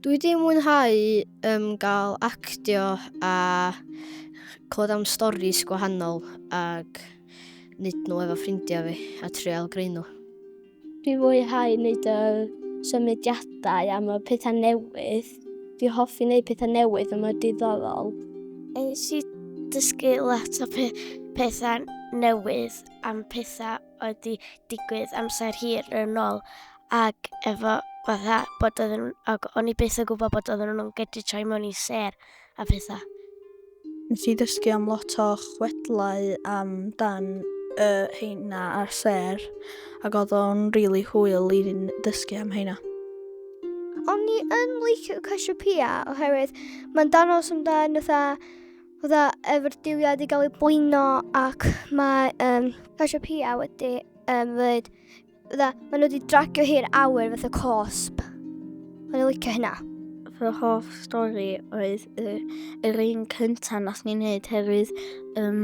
Dwi wedi mwynhau um, gael actio a clywed am storys gwahanol ac wneud nhw efo ffrindiau fi a trial greu nhw. Dwi fwyhau wneud y symudiadau am y pethau newydd. Dwi hoffi wneud pethau newydd yma diddorol. Nes i dysgu lot o pethau newydd am pethau oedd di digwydd amser hir yn ôl ac efo fatha bod oedd yn... ac o'n i byth yn gwybod bod oedd nhw'n gedi troi mewn i ser a pethau. Nes i ddysgu am lot o chwedlau am dan y heina a'r ser ac oedd o'n rili really hwyl i ddysgu am heina. O'n i yn licio Cassiopeia oherwydd mae'n danos amdan fatha fydda efo'r diwiad i gael ei bwyno ac mae um, Tasha Pia wedi um, fyd, fydda, maen nhw wedi dragio hi'r awyr fath o cosb. Maen nhw'n licio hynna. Fy hoff stori oedd y, yr un cyntaf nath ni'n neud herwydd um,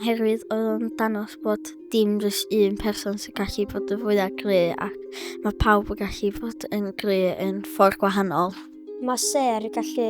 herwydd oedd o'n danos bod dim rhys un person sy'n gallu bod yn fwyaf gry ac mae pawb yn gallu bod yn gry yn ffordd gwahanol. Mae ser gallu